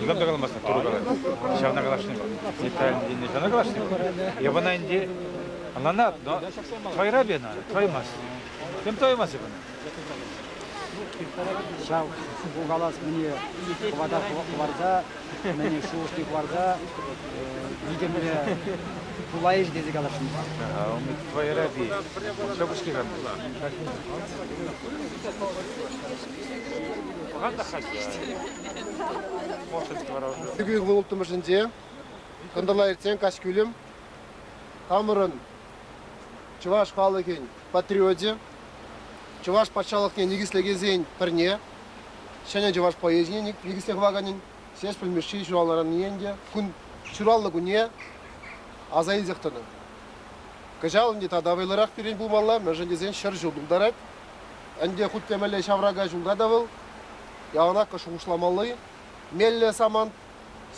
Никам та каламастан туру калать. Ҫавна каласшӑн пар. Николай ҫавна каласшӑн Я вона инди, она надо, но твоя рабина, твоимас. Кем твоимас бына? Ҫав калас мне хвата хварда мӗн шухӑшне хӑварса витӗмлӗ пулайӗҫ тесе каласшӑнмар. Ümit Твоеради, шӑпӑшки ханна. Пӑхан та хасист. Мошенский вара уже. Сергей ылтӑмӑшӗнче кӑнтӑрла иртсен каҫкӳлӗм хамӑрӑн чӑваш халӑхӗн патриочӗ, чӑваш патшалӑхне никӗслекенсен пӗрне, ҫӗнӗ чӑваш поэзине никӗсле хӑваканӗн Ҫеҫпӗл Мишши ҫуралнӑранне ӗнтӗ кун ҫуралнӑ кунне аса илсех тӑнӑ. Кӑҫал ӗнтӗ тата вӑйлӑрах пирӗн пулмалла, мӗншӗн тесен ҫӗр ҫул тултарать. Ӗнтӗ хуть те мӗнле ҫаврака ҫулта та вӑл яланах шухӑшламалли меллӗ самант.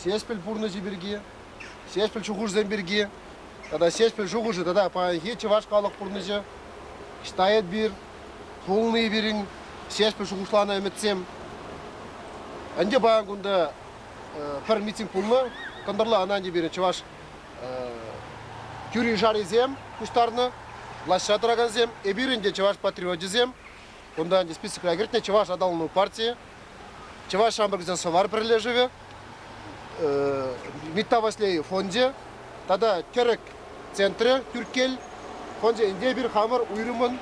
Ҫеҫпӗл пурнӑҫӗ пирки, Ҫеҫпӗл шухӑшӗсем пирки тата Ҫеҫпӗл шухӑшӗ тата паянхи чӑваш халӑх пурнӑҫӗ ӑҫта эпир пулни пирӗн Ҫеҫпӗл шухӑшланӑ ӗмӗтсем. Ӗнтӗ паян кунта пӗр митинг пулнӑ, кӑнтӑрла ӑна ӗнтӗ пирӗн чӑваш тӳрин шарисем пуҫтарнӑ, влаҫра тӑракансем, эпир ӗнтӗ чӑваш патриочӗсем, Кунта ӗнтӗ списокра кӗртнӗ Чӑваш аталану партийӗ, Чӑваш ҫамрӑкӗсен сӑвар пӗрлешӗвӗ, Митта Васлей фончӗ тата Тӗрӗк центрӗ, Тӳрккел фончӗ ӗнтӗ эпир хамӑр уйрӑмӑн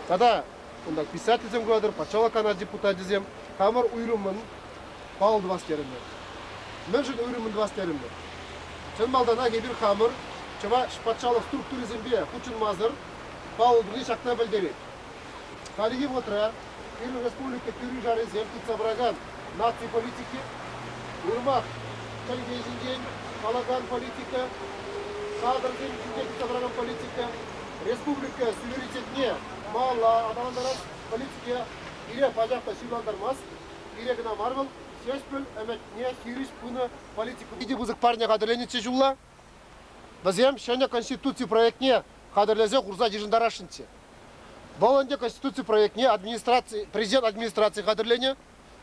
тата кунта писательсем куратӑр, патшалӑх канаш депутачӗсем хамӑр уйрӑмӑн паллӑ тӑвас терӗмӗр. Мӗншӗн уйрӑмӑн тӑвас терӗмӗр? Чӑн малтанах эпир хамӑр Чӑваш патшалӑх структурисемпе хутшӑнмасӑр паллӑ туни ҫакна пӗлтерет. Хальхи вӑхӑтра пирӗн республика тӳрӗ-шарӗсем тытса пыракан наци политики уйрӑмах чӗлхе ҫинчен калакан политика, кадрсем ҫинчен тытса пыракан политика, республика суверенитетне малалла аталантарас политика пире пачах та ҫырлантармасть. Пире кӑна мар вӑл, ҫеҫпӗл ӗмӗтне хирӗҫ пынӑ политика. Питӗ пысӑк парне хатӗрленӗччӗ ҫулла. Вӗсем ҫӗнӗ Конституци проектне хатӗрлесе хурса йышӑнтарасшӑнччӗ. Вӑл ӗнтӗ Конституци проектне администраци, Президент администрацийӗ хатӗрленӗ.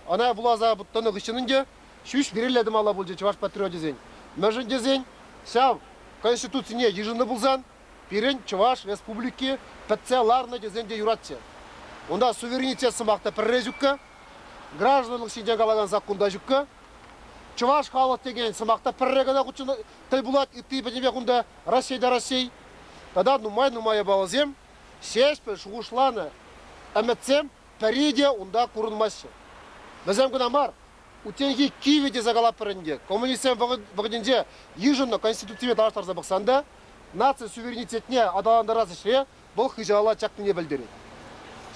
Ӑна вуласа тӑнӑ хыҫҫӑн ӗнтӗ ҫӳҫ грилле тӑмалла пулчӗ чӑваш патриочӗсен. Мӗншӗн тесен ҫав Конституцине йышӑннӑ пулсан пирӗн Чӑваш Республики пӗтсе ларнӑ тесен те юратчӗ. Унта суверенитет сӑмах та пӗрре ҫукка, гражданлӑх ҫинчен калакан саккун та ҫукка. Чӑваш халӑх текен сӑмах та пӗрре кӑна хутшӑнать тӗл пулать ытти пӗтӗмех унта Раҫҫей та Раҫҫей. Тата нумай-нумай япаласем Ҫеҫпӗл шухӑшланӑ ӗмӗтсем пӗри те унта курӑнмаҫҫӗ. Вӗсем кӑна мар, утенхи кивӗ тесе калатпӑр ӗнтӗ. Коммунистсем вӑхӑтӗнче йышӑннӑ Конституцине танлаштарса пӑхсан та наци суверенитетне аталантарас ӗҫре вӑл хыҫала чакнине пӗлтерет.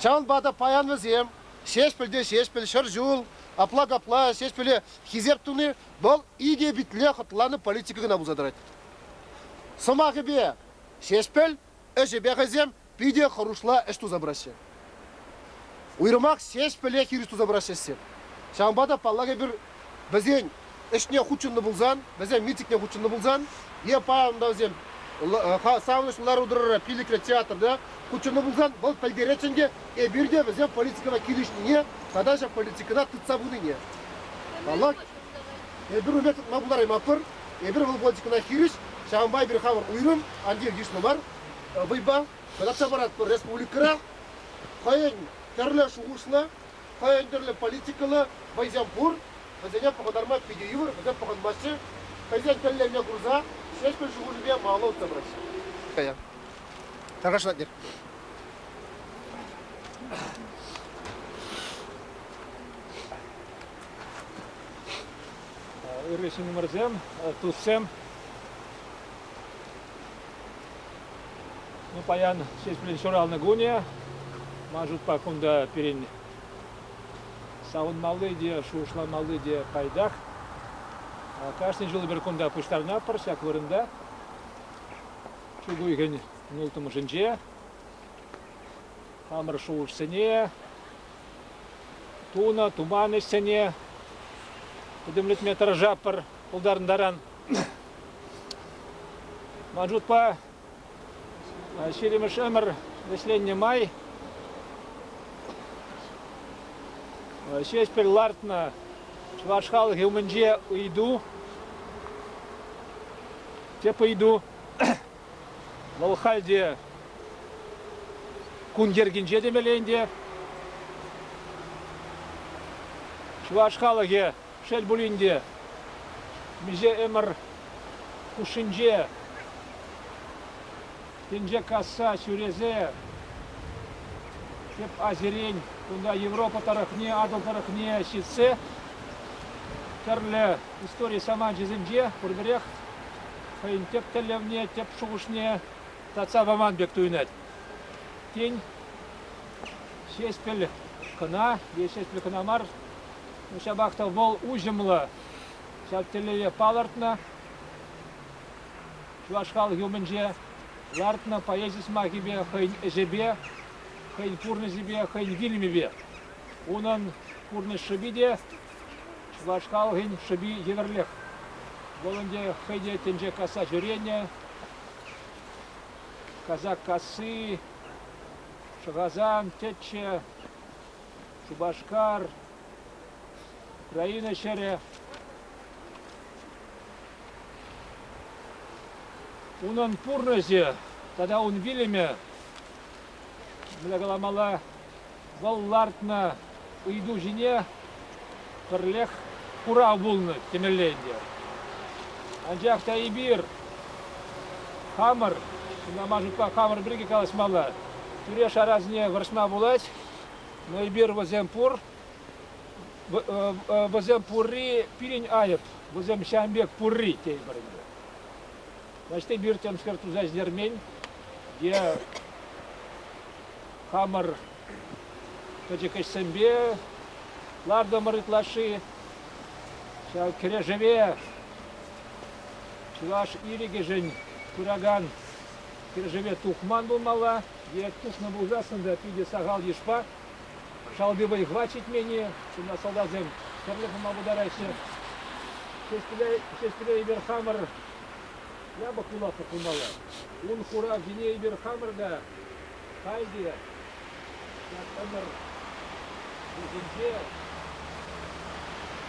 Ҫавӑнпа та паян вӗсем Ҫеҫпӗл те Ҫеҫпӗл, Ҫӗр ҫул, апла-капла Ҫеҫпӗле хисеп туни вӑл икӗ питле хӑтланӑ политика кӑна пулса тӑрать. Сӑмахӗпе, Ҫеҫпӗл ӗҫӗпе хӑйсем питӗ хӑрушла ӗҫ туса пыраҫҫӗ. Уйрӑмах ҫеҫпӗле хирӗҫ туса пыраҫҫӗ ӗҫсем. Ҫавӑнпа та, паллах, эпир вӗсен ӗҫне хутшӑннӑ пулсан, вӗсем митингне хутшӑннӑ пулсан е паян та вӗсем савӑнӑҫлӑ лару-тӑрура пиллӗкре театрта хутшӑннӑ пулсан, вӑл пӗлтерет ӗнтӗ эпир те вӗсем политикӑна килӗшнине тата ҫак политикӑна тытса пынине. Паллах, эпир ун пек тытма пултараймастпӑр. Эпир вӑл политикӑна хирӗҫ, ҫавӑнпа эпир хамӑр уйрӑм, анчах йышлӑ мар вӑйпа татса паратпӑр республикӑра. Хӑйӗн тӗрлӗ шухӑшлӑ, хӑйӗн тӗрлӗ политикӑллӑ вӑйсем пур, вӗсене пӑхӑнтарма питӗ йывӑр, вӗсем пӑхӑнмаҫҫӗ. Хӑйсен тӗллевне курса Ҫеҫпӗл шухӑшӗпе малалла утса пыраҫҫӗ. Тӑрӑшатӑр. Ырри ҫыннӑмӑрсем, туссем. Ну, паян ҫеҫпӗле ҫуралнӑ кунӗ. Ман шутпа, кунта пирӗн савӑнмалли те, шухӑшланмалли те пайтах. Кашни ҫул эпир кунта пуҫтарӑнатпӑр ҫак вырӑнта. Чӳк уйӑхӗн улттӑмӗшӗнче. Хамӑр шухӑшсене, тунӑ, туман ӗҫсене пӗтӗмлетме тӑрӑшатпӑр пултарӑнтаран. Маджудпа ҫирӗмӗш ӗмӗр вӗҫленнӗ май Ҫеҫпӗл лартнӑ чӑваш халӑхӗ умӗнче ыйту, тӗп ыйту, вӑл хальте кун йӗркинче темелле ӗнтӗ. Чӑваш халӑхӗ Шел пулин те, миҫе ӗмӗр хушшинче тӗнче касса ҫӳресе тӗп Азирен, кунта Европа тӑрӑхне, Атӑл тӑрӑхне ҫитсе тӗрлӗ истори саманчӗсенче пурпӗрех хӑйӗн тӗп тӗллевне, тӗп шухӑшне татса паман пек туйӑнать. Тен, Ҫеҫпӗл кӑна е Ҫеҫпӗл кӑна мар, Ҫапах та вӑл уҫӑмлӑ ҫак тӗллеве палӑртнӑ. Чӑваш халӑхӗ умӗнче лартнӑ поэзи сӑмахӗпе хӑйӗн ӗҫӗпе, хӑйӗн пурнӑҫӗпе, хӑйӗн вилӗмӗпе. Унӑн пурнӑҫ шӑпи те чӑваш халӑхӗн шӑпи евӗрлех. Вӑл ӗнтӗ хӑй те тӗнче касса ҫӳренӗ. Казак касси, Шӑхасан тӗччӗ, Шупашкар, Украина ҫӗрӗ. Унӑн пурнӑҫӗ тата ун вилӗмӗ, мӗне каламалла, вӑл лартнӑ ыйту ҫине пӗрлех хурав пулнӑ темелле ӗнтӗ. Анчах та эпир хамӑр, ҫынна ман шутпа хамӑр пирки калаҫмалла, тӳре-шарасене вӑрҫма пулать. Эпир вӗсем пур. Вӗсем пурри пирӗн айӑп. Вӗсем ҫавӑн пек пурри тейпӗр ӗнтӗ. Значит, эпир темскер туса ӗҫтермен е хамӑр пӗчӗк ӗҫсемпе лартӑмӑр ытлашши. Ҫав кӗрешӗве чӑваш ирӗкӗшӗн пыракан кӗрешӗве тухман пулмалла. Е тӑснӑ пулсассӑн та питӗ сахал йышпа шалти вӑй-хӑват ҫитмен-и? Ҫынна салтаксем тӗрлӗ пулма пултараҫҫӗ. Ҫеҫпӗле эпир хамӑр япӑх юласлӑх пулмалла. Ун хуравҫине эпир хамӑр та халь те ҫак ӗмӗр вӗҫӗнче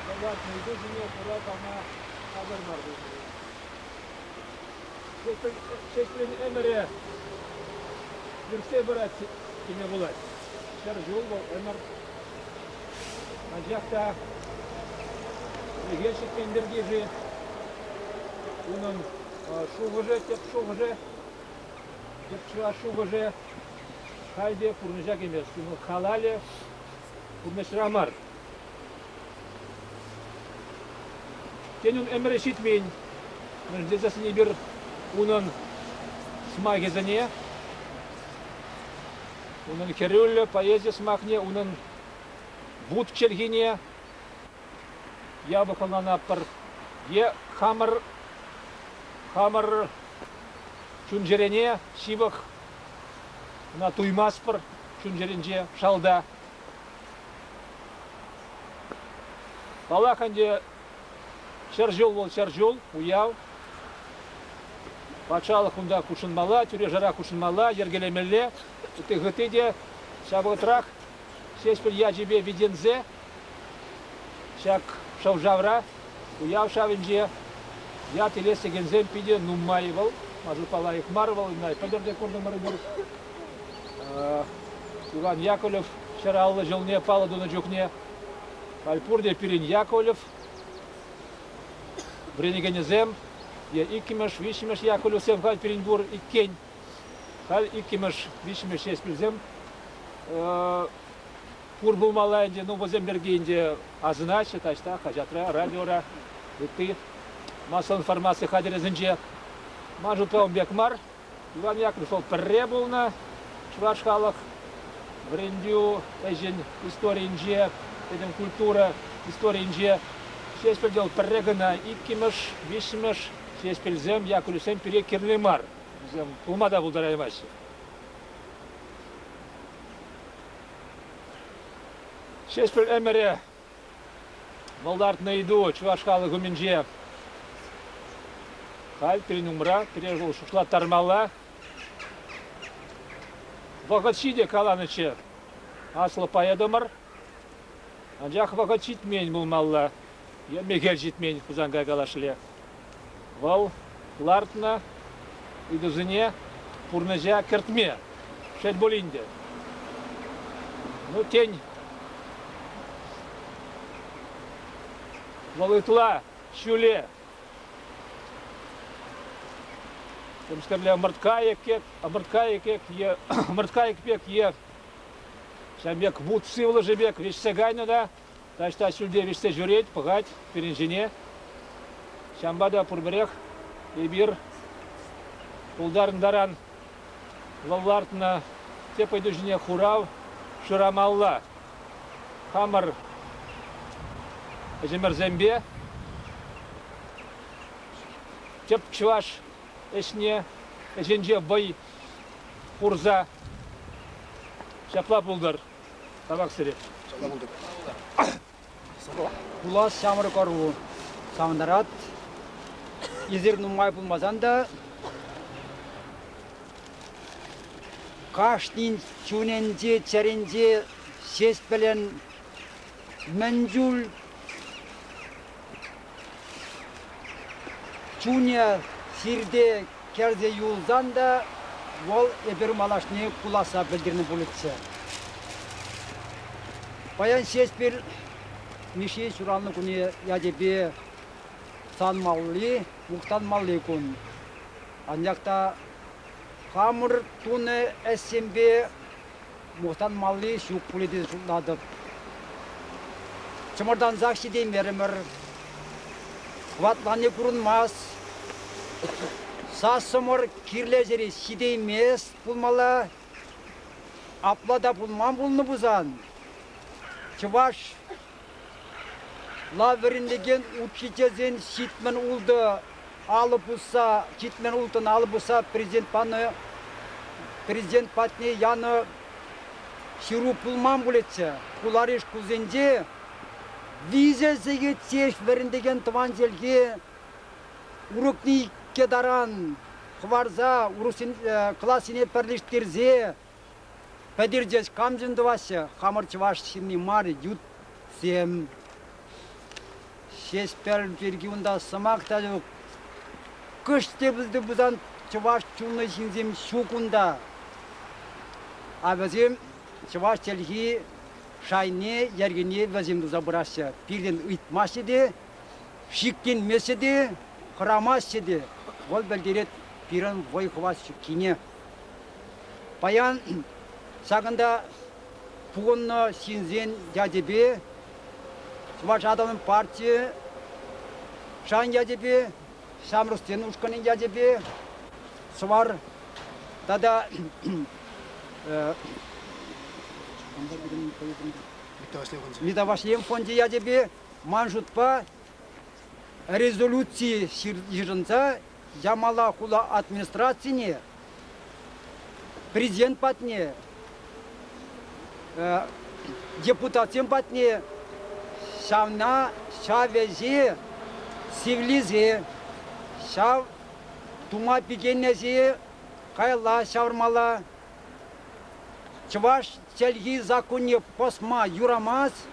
хӑватнӑ ыйту ҫине хура пама хатӗр мар пулмалла. ҫеҫпӗлӗн ӗмӗрӗ иртсе пырать теме пулать. Ҫӗр ҫул вӑл ӗмӗр анчах та ӗлӗке ҫитмен пирки-ши унӑн шухӑшӗ, тӗп шухӑшӗ, тӗп чӑваш шухӑшӗ халь те пурнӑҫа кӗмест. Ему калали Пурнӑҫра мар. Тенӗн ӗмӗрӗ ҫитмен. Мӗнлесе сӗнӗпӗр унӑн сӑмахӗсене, унӑн хӗрӳллӗ поэзи сӑмахне, унӑн вут чӗлхине япӑх ӑнланатпӑр. Е хамӑр хамӑр чун-чӗрене ҫывӑх Ӑна туймастпӑр чун-чӗринче шалта. Паллах ӗнтӗ, ҫӗр ҫул вӑл ҫӗр ҫул, уяв. Патшалӑх унта хутшӑнмалла, тӳре-шара хутшӑнмалла, йӗркелемелле. Ытти-хытти те ҫав вӑхӑтрах Ҫеҫпӗл ячӗпе витӗнсе ҫак шӑв-шавра уяв шавӗнче ят илес текенсем питӗ нумай вӑл. Машутпа лайӑх мар вӑл, пӗлтӗр те куртӑмӑрӑмӑр. Иван Яковлев ҫӗр аллӑ ҫулне паллӑ тунӑ чухне халь пурте пирӗн Яковлев вӗренекенӗсем е иккӗмӗш, виҫҫӗмӗш Яковлевсем халь пирӗн пур иккен. Халь иккӗмӗш, виҫҫӗмӗш ҫеҫ пӳлсем пур пулмалла ӗнтӗ. Ну, вӗсем пирки ӗнтӗ асӑнаҫҫӗ таҫта, хаҫатра, радиора, ытти массӑллӑ информаци хатӗрӗсенче. Ман шутлавӑм пек мар. Иван Яковлев вӑл пӗрре пулнӑ чӑваш халӑх вӗрентӳ ӗҫӗн историйӗнче, этем культура историйӗнче Ҫеҫпӗл вӑл пӗрре кӑна, иккӗмӗш, виҫҫӗмӗш Ҫеҫпӗлсем, Яковлевсем пире кирлӗ мар. Вӗсем пулма та пултараймаҫҫӗ. Ҫеҫпӗл ӗмӗрӗ вӑлтартнӑ ыйту чӑваш халӑх умӗнче халь пирӗн умра пире вӑл шутлаттармалла. Вӑхӑт ҫитӗ каланӑччӗ аслӑ поэтӑмӑр. Анчах вӑхӑт ҫитмен пулмалла. Е мехел ҫитмен Хусанкай калашле. Вӑл лартнӑ ыйтусене пурнӑҫа кӗртме, шел пулин те, ну, тен, вӑл ытла ҫӳле темскерле ӑмӑртка екек, ӑмӑртка екек е ӑмӑртка екпек е ҫав пек вут сывлӑшӗ пек вӗҫсе кайнӑ та Таҫта ҫӳлте вӗҫсе ҫӳрет, пӑхать пирӗн ҫине. Ҫавӑнпа та пурпӗрех эпир пултарӑн таран вӑл лартнӑ тӗп ыйту ҫине хурав шырамалла. Хамӑр ӗҫӗмӗрсемпе тӗп чӑваш ӗҫне ӗҫӗнче вӑй хурса ҫапла пултӑр. Табак сире. Пулас ҫамрӑк ӑру савӑнтарать. Эсир нумай пулмасан та кашнин чунӗнче, чӗринче ҫеҫ пӗлен мӗн чуль Чунӗ хирте кӗрсе юлсан та вӑл эпир малашне пуласса пӗлтернӗ пулӗччӗ. Паян Ҫеҫпӗл Мишши ҫуралнӑ кунӗ ячӗпе санмалли, мухтанмалли кун. Анчах та хамӑр тунӑ ӗҫсемпе Мухтанмалли ҫук пулӗ тесе шутлатӑп. Чӑмӑртансах ҫитеймерӗмӗр. Хӑватланни курӑнмасть. Сассӑмӑр кирлӗ ҫӗре ҫитеймест пулмалла. Апла та пулман пулнӑ пулсан, чӑваш Ла вӗрентекен учительсен ҫитмӗл ултӑ алӑ пусса ҫитмӗл улттӑн алӑ пусса президент панӑ президент патне янӑ ҫыру пулман пулӗччӗ. Хулари шкулсенче виҫӗ сехет ҫеҫ вӗрентекен тӑван чӗлхе урокне иккӗ таран хӑварса урӑхсен классене пӗрлештерсе Пӗтертес камшӑн тӑваҫҫӗ хамӑр чӑваш ҫынни мар ютсем. Ҫеҫпӗл пирки унта сӑмах та ҫук. Кӑш тепӗлте пулсан чӑваш чунлӑ ҫынсем ҫук унта. А вӗсем чӑваш чӗлхи шайне, йӗркине вӗсем туса пыраҫҫӗ. Пиртен ыйтмаҫҫӗ те, шикленмеҫҫӗ те, хӑрамаҫҫӗ те. Вӑл пӗлтерет пирӗн вӑй хӑват ҫуккине. Паян ҫакӑнта пухӑннӑ ҫынсен ячӗпе Чӑваш Атӑлӗн партийӗ шан ячӗпе, ҫамрӑксен ушкӑнӗн ячӗпе Сӑвар тата Мита Ваҫлейӗн фончӗ ячӗпе ман шутпа резолюци йышӑнса Ямала хула администрацине президент патне, депутатсем патне ҫавна ҫав ӗҫе сивлесе, ҫав тума пикеннӗҫе каялла ҫавӑрмалла. Чӑваш чӗлхи саккунне пӑсма юрамасть.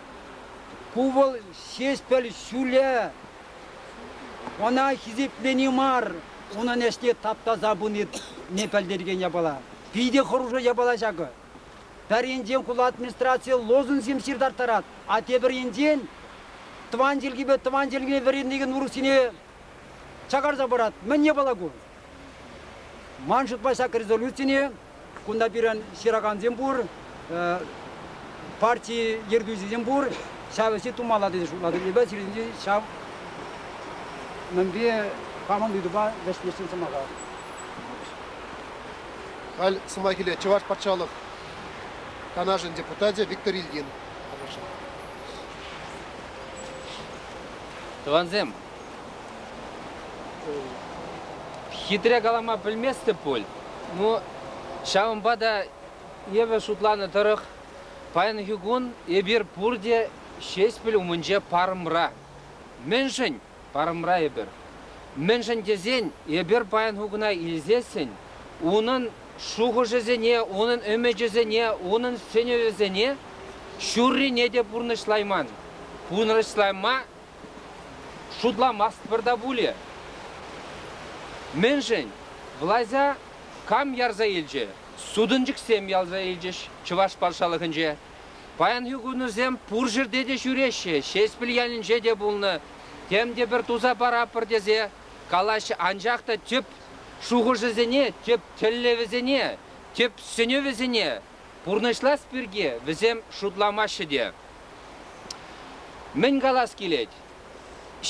Ку вӑл Ҫеҫпӗл ҫулӗ. Ӑна хисеплени мар, унӑн ӗҫне таптаса пынине пӗлтерекен япала. Питӗ хӑрушӑ япала ҫакӑ. Пӗр енчен хула администрацийӗ лозунгсем ҫыртарттарать, а тепӗр енчен тӑван чӗлхепе тӑван чӗлхене вӗрентекен урӑхсене чакарса парать. Мӗн япала ку? Ман шутпа ҫак резолюцине кунта пирӗн ҫыракансем пур, парти ертӳҫисем пур, ҫав ӗҫе тумалла тесе шутлатӑп. Эпӗ сирӗнтен ҫав мӗнпе хамӑн ыйтупа вӗҫлесен сӑмаха. Халь сӑмах илет Чӑваш патшалӑх Канашӗн депутачӗ Виктор Ильин. Тӑвансем, Хитре калама пӗлместӗп пуль. Ну, ҫавӑнпа та эпӗ шутланӑ тӑрӑх паянхи кун эпир пурте Ҫеҫпӗл умӗнче парӑмра. Мӗншӗн парӑмра эпир? Мӗншӗн тесен эпир паянхи куна илсессӗн унӑн шухӑшӗсене, унӑн ӗмӗчӗсене, унӑн сӗнӗвӗсене ҫуррине те пурнӑҫлайман. Пурнӑҫлама Шутламастпӑр та пулӗ. Мӗншӗн? Влаҫа кам ярса илчӗ? Сутӑнчӑксем ярса илчӗҫ Чӑваш патшалӑхӗнче. Паянхи кунӑсем пур ҫӗрте те ҫӳреҫҫӗ, Ҫеҫпӗл ялӗнче те пулнӑ, тем те пӗр туса паратпӑр тесе калаҫҫӗ, анчах та тӗп шухӑшӗсене, тӗп тӗллевӗсене, тӗп сӗнӗвӗсене Пурнӑҫлас пирки вӗсем шутламаҫҫӗ те. Мӗн калас килет,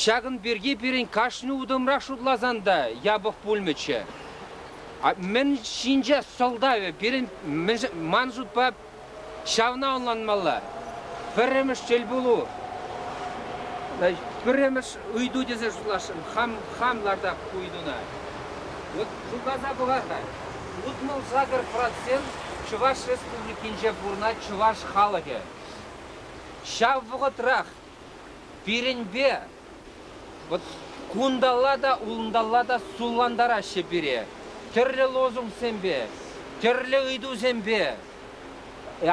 ҫакӑн пирки пирӗн кашни утӑмрах шутласан та япӑх пулмӗччӗ. Мӗн ҫинче сӑлтавӗ пирӗн ман шутпа ҫавна ӑнланмалла. Пӗрремӗш тӗлпулу пӗрремӗш ыйту тесе шутлашрӑм хам хам лартап ку ыйтуна. Вот шутласа пӑхар-ха. Утмӑл-сакӑр процент Чӑваш Республикинче пурӑнать чӑваш халӑхӗ. Ҫав вӑхӑтрах пирӗнпе вот кунталла та, улӑнталла та суллантараҫҫӗ пире. Тӗрлӗ лозунгсемпе, тӗрлӗ ыйтусемпе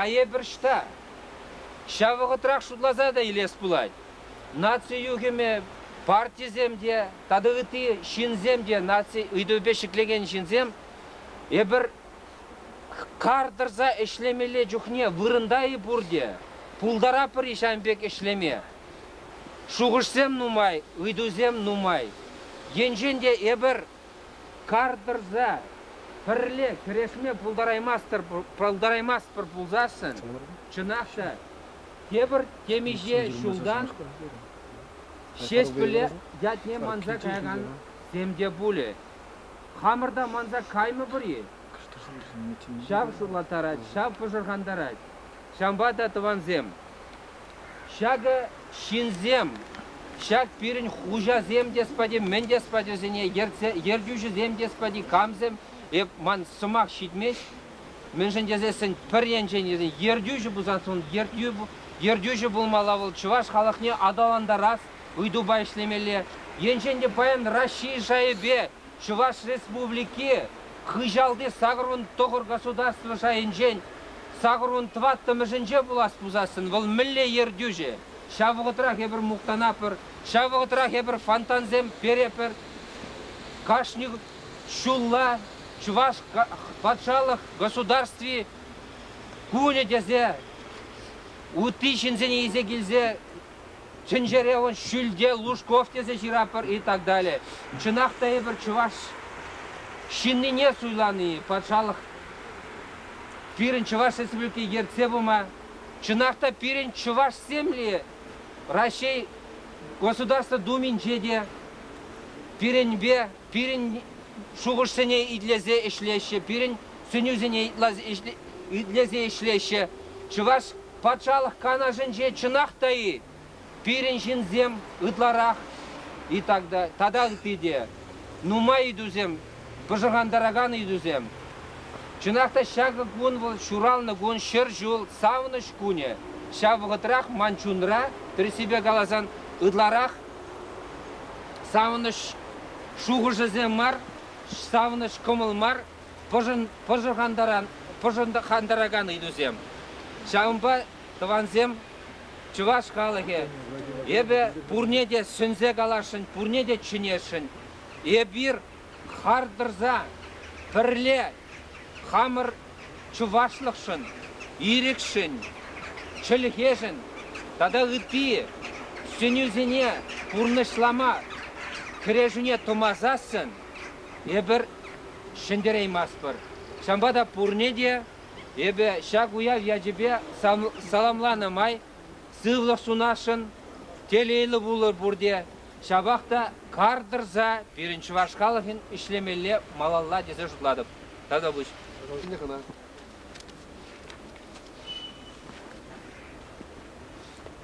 айӑпӑр ҫта. Ҫав вӑхӑтрах шутласа та илес пулать, Наци юхӑмӗ партисем те тата ытти ҫынсем те наци ыйтӑвӗпе ҫӗклекен ҫынсем эпир кар тӑрса ӗҫлемелле чухне вырӑнта-и пурте, пултаратпӑр-и ҫавӑн пек ӗҫлеме? Шухӑшсем нумай, ыйтусем нумай. Енчен те эпир Кар тӑрса пӗрле кӗрешме пултараймастпӑр пулсассӑн, чӑнах та, тепӗр темиҫе ҫултан Ҫеҫпӗле ятне манса каякансем те пулӗ. Хамӑр та манса каймӑпӑр-и? Ҫав шурлаттарать, ҫав пӑшӑрхантарать. Ҫавӑнпа та, тӑвансем, Ҫакӑ ҫынсем, ҫак пирӗн хуҫасем те спати, мӗн те спатьӑсене ертсе, ертӳҫӗсем те спати, камсем, эп, ман сӑмах ҫитмест, мӗншӗн тесессӗн пӗр енчен тесен ертӳҫӗ пулсан, ун ертӳ, ертӳҫӗ пулмалла вӑл чӑваш халӑхне аталантарас ыйтупа ӗҫлемелле. Енчен те паян Раҫҫей шайӗпе Чӑваш Республики хыҫалти сакӑрвун тӑхӑр государство шайӗнчен сакӑрвун тӑваттӑмӗшӗнче пулас пусассӑн вӑл мӗнле ертӳҫӗ? Ҫав вӑхӑтрах эпир мухтанатпӑр, ҫав вӑхӑтрах эпир фонтансем перепӗр. Кашни ҫулла Чӑваш патшалӑх государстви кунӗ тесе ытти ҫынсене илсе килсе Тӗнчере вӑл Ҫӳлте Лужков тесе ҫыратпӑр и так далее. Чӑнах та эпир чӑваш ҫыннине суйлани, патшалӑх пирӗн Чӑваш Республики ертсе пыма, чӑнах та пирӗн чӑвашсемле Раҫҫей Государство Думинче те пирӗнпе пирӗн шухӑшсене итлесе ӗҫлеҫҫӗ, пирӗн сӗнӳсене итлесе ӗҫлеҫҫӗ. Чӑваш Патшалӑх Канашӗнче чӑнах та-и пирӗн ҫынсем ытларах и тата ытти те нумай ыйтусем, пӑшӑрхантаракан ыйтусем. Чӑнах та ҫакӑ кун вӑл ҫуралнӑ кун, ҫӗр ҫул, савӑнӑҫ кунӗ. Ҫав вӑхӑтрах ман чунра, тӗрӗссипе каласан, ытларах савӑнӑҫ шухӑшӗсем мар, савӑнӑҫ кӑмӑл мар пӑшӑрхантаракан ыйтусем. Ҫавӑнпа тӑвансем, чӑваш халӑхӗ, эпӗ пурне те сӗнсе каласшӑн, пурне те чӗнесшӗн. Эпир хар тӑрса пӗрле хамӑр чӑвашлӑхшӑн, ирӗкшӗн, чӗлхешӗн тата ытти сӗнӳсене пурнӑҫлама, кӗрешӳне тӑмасассӑн Эпир ҫӗнтерейместпӗр. Ҫавӑнпа та пурне те эпӗ ҫак уяв ячӗпе саламланӑ май сывлӑх сунасшӑн, телейлӗ пулӑр пурте, ҫапах та кар тӑрса пирӗн чӑваш халӑхӗн ӗҫлемелле малалла тесе шутлатӑп. Тата пуҫ.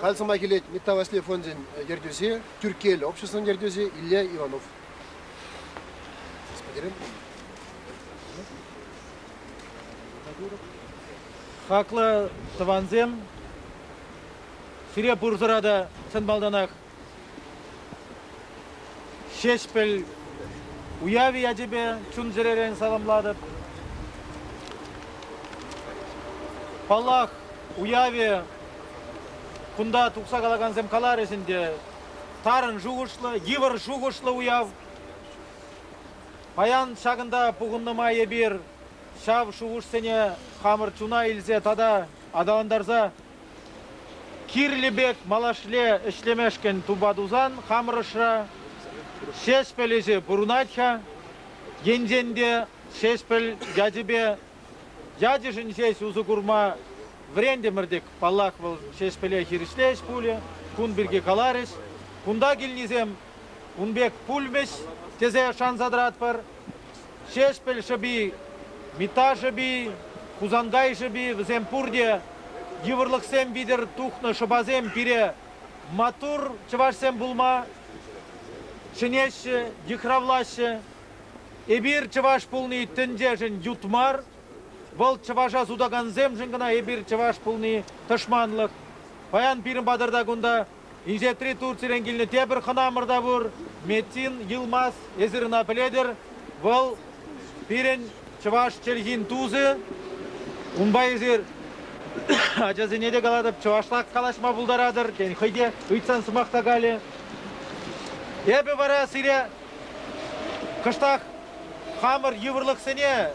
Халь сӑмах илет Митта Васли фончӗн ертӳҫи, Тӳркел обществӑн ертӳҫи Илья Иванов. Хаклӑ тӑвансем, сире пурсӑра та чӑн малтанах Ҫеҫпӗл уявӗ ячӗпе чун-чӗререн саламлатӑп. Паллах, уявӗ кунта тухса калакансем каларӗҫ ӗнтӗ. Тарӑн шухӑшлӑ, йывӑр шухӑшлӑ уяв. Паян ҫакӑнта пухӑннӑ май эпир ҫав шухӑшсене хамӑр чуна илсе тата аталантарса Кирлӗ пек малашле ӗҫлемешкӗн тупа тусан хамӑр ӑшра Ҫеҫпӗл ӗҫӗ пурӑнать-ха. Енчен те Ҫеҫпӗл ячӗпе ячӗшӗн ҫеҫ усӑ курма вӗрентӗмӗр-тӗк, паллах, вӑл Ҫеҫпӗле хирӗҫле ӗҫ пулӗ, кун пирки каларӗҫ. Кунта килнисем Ун пек пулмӗҫ тесе шанса тӑратпӑр. Ҫеҫпӗл шӑпи, Митта шӑпи, Хусанкай шӑпи вӗсем пурте йывӑрлӑхсем витӗр тухнӑ шӑпасем пире маттур чӑвашсем пулма чӗнеҫҫӗ, йыхравлаҫҫӗ. Эпир чӑваш пулни тӗнчешӗн ют мар, вӑл чӑваша сутакансемшӗн кӑна эпир чӑваш пулни тӑшманлӑх. Паян пирӗн патӑрта кунта Инҫетри Турцирен килнӗ тепӗр хӑнамӑр та пур, Метин Йылмаз. Эсир ӑна пӗлетӗр. Вӑл пирӗн чӑваш чӗлхин тусӗ. Унпа эсир ачасене те калатӑп, чӑвашлах калаҫма пултаратӑр. Тен, хӑй те ыйтсан сӑмах та калӗ. Эпӗ вара сире кӑштах хамӑр йывӑрлӑхсене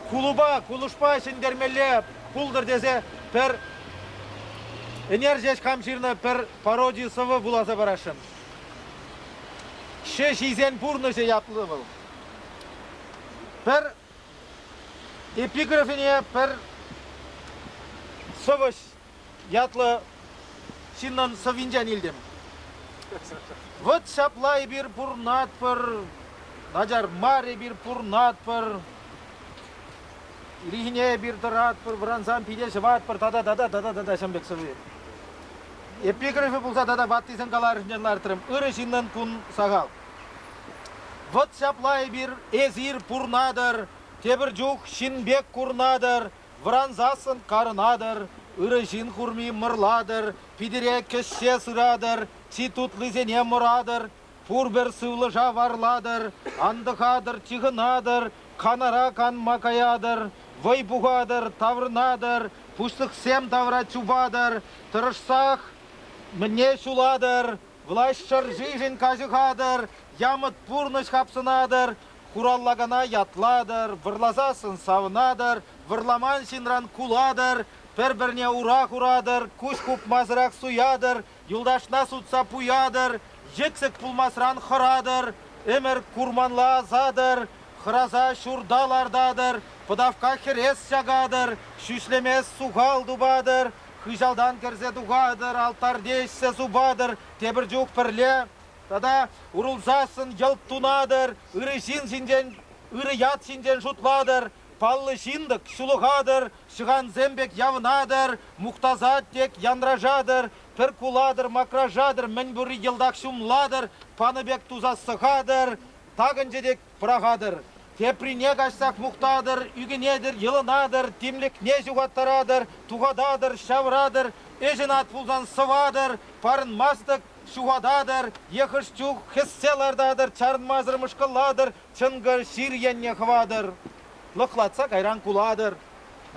кулӑпа, кулӑшпа ҫӗнтермелле пултӑр тесе пӗр ӗнер ҫеҫ хам ҫырнӑ пӗр пароди сӑвӑ вуласа парасшӑн. Ҫеҫ ҫисен пурнӑҫӗ ятлӑ вӑл. Пӗр эпиграфине пӗр сӑвӑҫ ятлӑ ҫыннӑн сӑввинчен илтӗм. Вот ҫапла эпир пурнатпӑр, начар мар эпир пурнатпӑр. Ирхине эпир тӑратпӑр, вӑрансан пите ҫӑватпӑр тата тата тата тата ҫӗмлӗк сӑви. Эпиграфӗ пулса тата ваттисен каларӗнчен лартрӑм. Ырӑ ҫыннӑн кун сахал. Вӑт ҫапла эпир, эсир пурнатӑр, тепӗр чух ҫын пек курнатӑр, вӑрансассӑн карӑнатӑр, ырӑ ҫын курми мӑрлатӑр, питӗре кӗҫҫе сыратӑр, чи тутлисене мӑратӑр, Пурпӗр сывлӑша варлатӑр, антӑхатӑр, чыхӑнатӑр, канара канма каятӑр, вӑй пухатӑр, таврӑнатӑр, пуҫлӑхсем тавра чупатӑр, тӑрӑшсах мӗне ҫулатӑр, власть шӑршишӗн каҫӑхатӑр, ямӑт пурнӑҫ хапсӑнатӑр, хураллакана ятлатӑр, вӑрласассӑн савӑнатӑр, вӑрламан ҫынран кулатӑр, пӗр-пӗрне ура хуратӑр, куҫ хупмасӑрах суятӑр, Юлташна сутса пуятӑр, йӗксӗк пулмасран хӑратӑр, ӗмӗр курманла асатӑр, хӑраса ҫурта лартатӑр, пӑтавкка хӗрес чакатӑр, ҫӳҫлемес сухал тупатӑр, хыҫалтан кӗрсе тухатӑр, алтарьте ӗҫсе супатӑр, тепӗр чух пӗрле тата урӑлсассӑн йӑлт тунатӑр, ырӑ ҫын ҫинчен, ырӑ ят ҫинчен шутлатӑр, Паллӑ ҫын-тӑк, ҫулӑхатӑр, ҫӑхансем пек явӑнатӑр, мухтасать тек, янрашатӑр, пӗр кулатӑр, макрашатӑр, мӗн пурри йӑлтах ҫумлатӑр, панӑ пек туса сӑхатӑр, такӑнчӗ тек, пӑрахатӑр. Теприне каҫсах мухтатӑр, ӳкӗнетӗр, йӑлӑнатӑр, тимлӗхне ҫухаттаратӑр, тухататӑр, ҫавӑратӑр, ӗҫ ӑнат пулсан сӑватӑр, парӑнмастӑк, ҫухататӑр, е хӑш чух хӗссе лартатӑр, чарӑнмасӑр мӑшкӑллатӑр, чӑнкӑ ҫыр енне хӑватӑр, лӑхлатса кайран кулатӑр.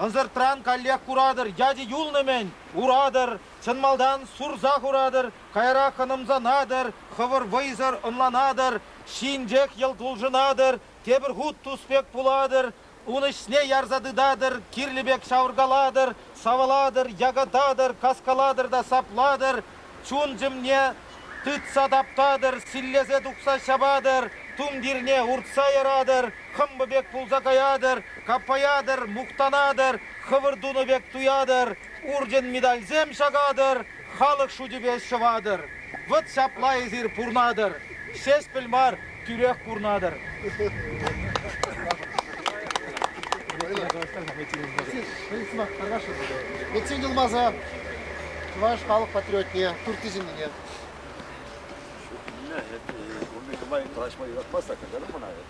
Ӑнсӑртран каллех куратӑр, ячӗ юлнӑ-мӗн, уратӑр, чӑн малтан сурса хуратӑр, каярах хӑнӑмсанатӑр, хӑвӑр вӑйсӑр ӑнланатӑр, ҫинчех йӑлт улшӑнатӑр, тепӗр хут тус пек пулатӑр, Ун ӗҫне ярса тытатӑр, кирлӗ пек ҫавӑркалатӑр, савӑлатӑр, якататӑр, каскалатӑр та саплатӑр, чун-чӗмне тытса таптатӑр, силлесе тухса ҫапатӑр, тумтирне уртса яратӑр, хӑмпӑ пек пулса каятӑр, каппаятӑр, мухтанатӑр, хӑвӑр тунӑ пек туятӑр, урчӑн медальсем ҫакатӑр, Халӑх шучӗпе ҫӑватӑр, вӑт ҫапла эсир пурнатӑр, ҫеҫпӗл мар, тӳрех курнатӑр. Метсен Йылмаза, чӑваш халӑх патриотне, туртти ҫыннине. Унти нумай калаҫма юратмастах, каҫарӑм мана.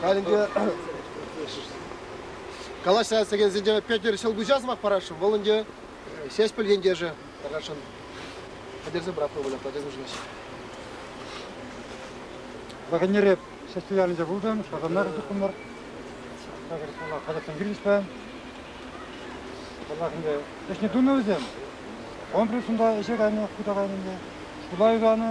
Халь ӗнтӗ калаҫса сӗкенсенче Петӗр Ҫӑлкуҫа сӑмах парасшӑн. Вӑл ӗнтӗ Ҫеҫпӗл ентешӗ тархасшӑн. Пӗтерсе пӑрахма выляттарать Ҫӑлкуҫ. Ваканнере Ҫеҫпӗл ялӗнче пултӑм, Шатанар чухӑмӑр. Такӑр паллах, хаҫатсем килӗҫпӗ. Паллах, ӗнтӗ ӗҫне тунӑ вӗсем. Комплекс унта ӗҫе кайнӑ, хута кайнӑ ӗнтӗ. Шкула юсанӑ,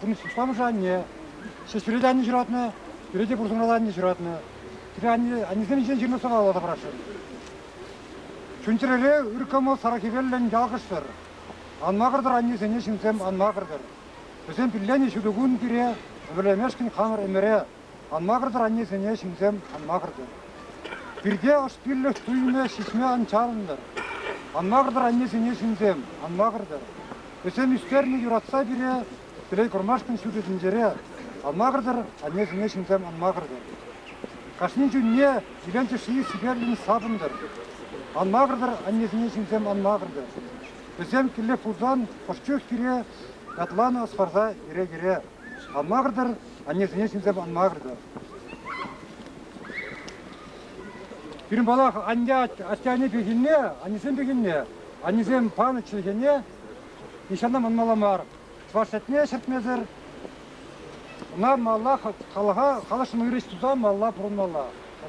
пурнӑҫ усламӑшӗ анне, ҫӗҫӳре те анне ҫуратнӑ, пӳре те пурсӑмралла анне ҫуратнӑ. Пире анне, аннесем ҫинчен ҫырнӑ сӑвапласа параҫҫӗ. Чун-чӗрере ыр кӑмӑл сарӑ хӗвеллӗн ялкӑшсӑр. Ан макӑртӑр аннесене ҫынсем, ан макӑртӑр. Вӗсем пилленӗ ҫутӑ кун пире, ӗмӗрлемешкӗн хамӑр ӗмӗре, Ан макӑртӑр аннесене ҫынсем, ан макӑртӑр. Пирте ӑш пиллӗх туйӑмӗ ҫиҫме ан чарӑнтӑр. Ан макӑртӑр аннесене ҫынсем, ан макӑртӑр. Вӗсем ӳстернӗ юратса пире телей курмашкӑн ҫутӑ тӗнчере. Ан макӑртӑр аннесене ҫынсем, ан макӑртӑр. Кашни чунне илемҫӗ-ши сиплӗн сапӑнтӑр. Ан макӑртӑр аннесене ҫынсем, ан макӑртӑр. Вӗсем киле пулсан ӑш чух кире ятланӑ ӑс парса йӗре-йӗре. Шанмасӑр аннесене чӗнсе панмасӑр. Пирӗн палах анне атте-анне пехилне, аннесем пехилне, аннесем панӑ чӗлхене нихҫана манмалла мар. Чӑваш чӗлхене ҫӗртмесӗр ӑна малла халӑха, халӑхшӑн ырӑ ӗҫ туса малла пурӑнмалла. Тата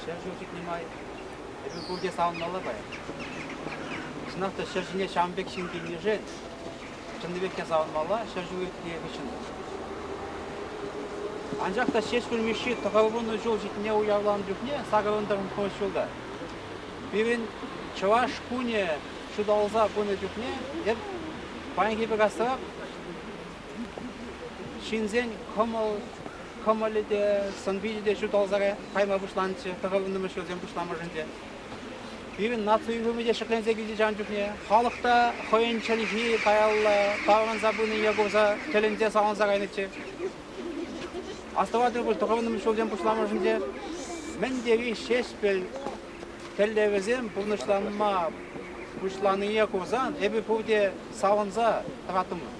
Ҫӗр ҫул ҫитнӗ май эпир пурте савӑнмалла паян. Чӑнах та ҫӗр ҫине ҫавӑн пек ҫын килнишен чӑннипех те савӑнмалла ҫӗр ҫул иртнӗ хыҫҫӑн та. Анчах та Ҫеҫпӗл Мишши тӑхӑрвуннӑ ҫул ҫитнине уявланӑ чухне сакӑрӑн-тӑрӑнтмӑш ҫулта пирӗн Чӑваш кунӗ ҫуталса пынӑ чухне эп паянхи пек асрах ҫынсен кӑмӑл кӑмӑлӗ те, сӑн-пичӗ те ҫуталсарах кайма пуҫланчӗ тӑхӑннӑмӗш ҫулсем пуҫламӑшӗнче. Пирӗн наци уйрӑмӗ те ҫӗкленсе килчӗ ҫавӑн чухне. Халӑх та хӑйӗн чӗлхи каялла таврӑнса пынине курса тӗлӗнсе савӑнса кайнӑччӗ. Астӑватӑр пуль тӑхӑннӑмӗш ҫулсем пуҫламӑшӗнче мӗн тери ҫеҫпӗл тӗллевӗсем пурнӑҫланма пуҫланине курсан эпир пурте савӑнса тӑраттӑмӑр.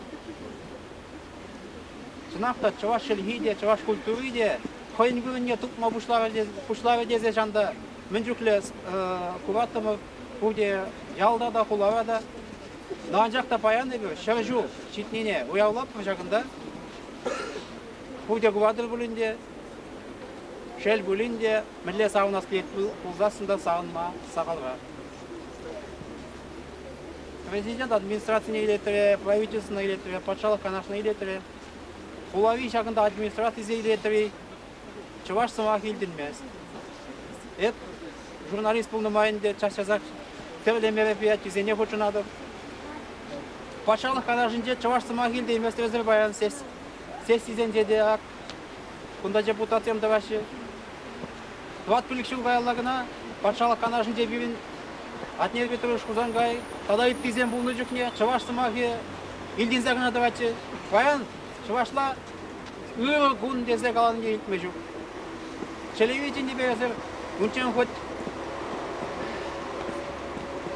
Чӑнах та чӑваш чӗлхи те, чӑваш культури те хӑйӗн вырӑнне тупма пуҫларӗ тесе чан та мӗн чухлӗ кураттӑмӑр пурте ялта та, хулара та. Та анчах та паян эпир ҫӗр ҫул ҫитнине уявлатпӑр ҫакӑнта. Пурте куратӑр пулин те, шел пулин те, мӗнле савӑнас килет пулсассӑн та савӑнма сахалра. Президент администрацине илеттере, правительствӑна илеттере, патшалӑх канашне илеттере, хулари ҫакӑнта администрацисене илеттере чӑваш сӑмахӗ илтӗнмест. Эп журналист пулнӑ май ӗнтӗ час-часах тӗрлӗ мероприятисене хутшӑнатӑп. Патшалӑх канашӗнче чӑваш сӑмахӗ илтейместерсӗр паян сессисенче те, Кунта депутатсем тӑваҫҫӗ. Тӑват пилӗк ҫул каялла кӑна патшалӑх канашӗнче пирӗн Атнер Петрович Хусанкай тата ыттисем пулнӑ чухне чӑваш сӑмахӗ илтӗнсе кӑна тӑватчӗ. Паян чӑвашла ырӑ кун тесе калани те илтме ҫук. Чӗлӗве чӗнтӗпесӗр унччен хоть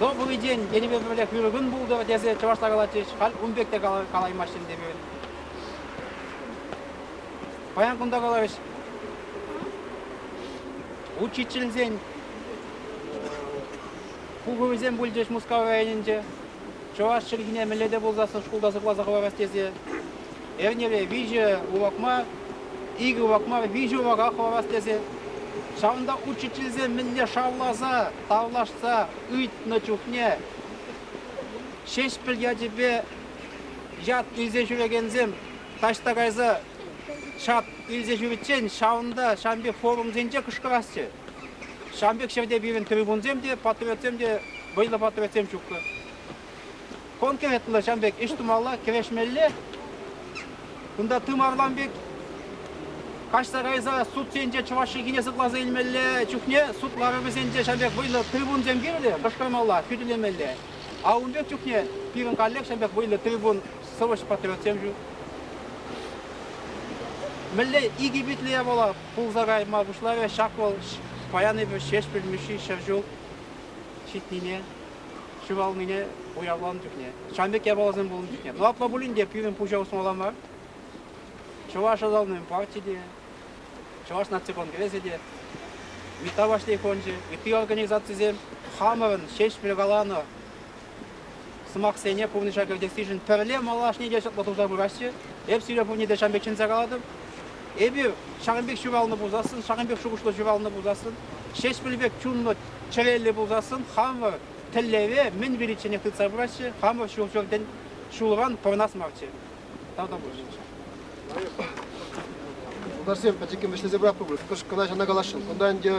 добрый день тенипе пӗрлех ырӑ кун пултӑр тесе чӑвашла калатчӗҫ. Халь ун пек те калаймаҫҫӗ ӗнтӗ пирӗн. Паян кунта каларӗҫ. Учительсен пухӑвӗсем пулчӗҫ Мускав районӗнче. Чӑваш чӗлхине мӗнле пулсассӑн шкулта сыхласа хӑварас тесе эрнере виҫӗ урок мар, икӗ урок мар, виҫӗ урока хӑварас тесе. Ҫавӑнта учительсем мӗнле шавласа, тавлашса ыйтнӑ чухне Ҫеҫпӗл ячӗпе Ят илсе ҫӳрекенсем таҫта кайса ҫат илсе ҫӳриччен ҫавӑнта ҫавӑн пек форумсенче кӑшкӑрасчӗ. Ҫавӑн пек ҫӗрте пирӗн трибунсем те, патриотсем те, вӑйлӑ патриотсем ҫуккӑ. Конкретлӑ ҫавӑн пек ӗҫ тумалла, кӗрешмелле. Кунта тымарлан пек каҫса кайса суд енче чӑваш чӗлхине сыхласа илмелле чухне суд ларӑвӗсенче ҫавӑн пек вӑйлӑ трибунсем кирлӗ, кӑшкӑрмалла, хӳтӗлемелле. А ун пек чухне пирӗн коллекцин пек вӑйлӑ трибун сӑвӑҫ-патриотсем ҫук. Мӗнле икӗ питлӗе пула пулса кайма пуҫларӗ, ҫак вӑл паян Ҫеҫпӗл Мишши ҫӗр ҫул ҫитнине, ҫуралнине уявланӑ чухне, ҫавӑн пек япаласем пулнӑ чухне. Ну, апла пулин те пирӗн пуҫа усмалла мар. Чӑваш ӑсалнин парти те, Чӑваш наци конгресӗ те, ытти Вашли фончӗ, ытти организацисем хамӑрӑн ҫеҫпӗл каланӑ сӑмахсене пурнӑҫа кӗртессишӗн пӗрле малашне те чӑтлӑ туса пыраҫҫӗ. Эп сире пурне те ҫавӑн пек чӗнсе калатӑп. Эпир ҫакӑн пек ҫуралнӑ пулсассӑн, ҫакӑн пек шухӑшлӑ ҫуралнӑ пулсассӑн, ҫеҫпӗл пек чунлӑ, чӗреллӗ пулсассӑн, хамӑр тӗллеве мӗн виличченех тытса пыраҫҫӗ, хамӑр ҫул-ҫуртӗн ҫулран пӑрӑнас марччӗ. Тутарсем пӗчӗккӗн вӗҫлесе пыратпӑр пуль. Кӑшкӑна ҫана каласшӑн. Кунта ӗнтӗ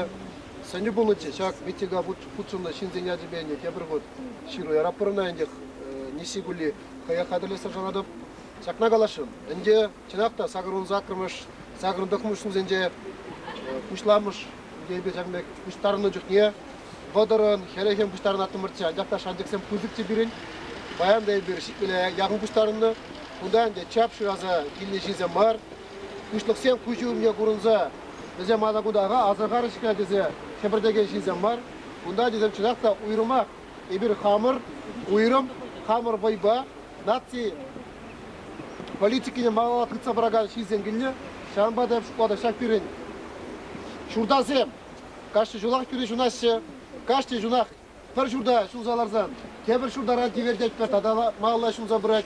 сӗнӳ пулнӑ те ҫак митинга хутшӑннӑ ҫынсен ячӗпе ӗнтӗ тепӗр хут ҫыру яратпӑр ӑна ӗнтӗ. Нисси кулли хӑех хатӗрлессе шанатӑп. Ҫакна каласшӑн. Ӗнтӗ чӑнах та сакӑрӑн саккӑрмӗш, сакӑрӑн тӑхмӑш ҫынсенче пуҫламӑш Йӗпеҫем пек пуҫтарӑннӑ чухне вӑтӑрӑн, хӗлӗхӗн пуҫтарӑнаттӑмӑрччӗ. Анчах та шанчӑксем пысӑкчӗ пирӗн. Паян та эпир ҫитмӗле яхӑн пуҫтарӑннӑ. Кунта ӗнтӗ чап шыраса килнӗ ҫынсем мар, пуҫлӑхсем куҫӗ умне курӑнса вӗсем атакутаха асӑрхарӗҫ кӑна тесе хӗпӗртекен ҫынсем мар. Кунта ачасем чӑнах та уйрӑмах Эпир хамӑр, уйрӑм, хамӑр вӑйпа наци политикине малалла тытса пыракан ҫынсем килнӗ. Ҫавӑнпа та шкулта ҫак пирӗн ҫуртасем кашни ҫулах тӳре ҫунаҫҫӗ. Кашни ҫунах пӗр ҫурта ҫулса ларсан тепӗр ҫуртаран тивертетпӗр тата малалла ҫунса пырать.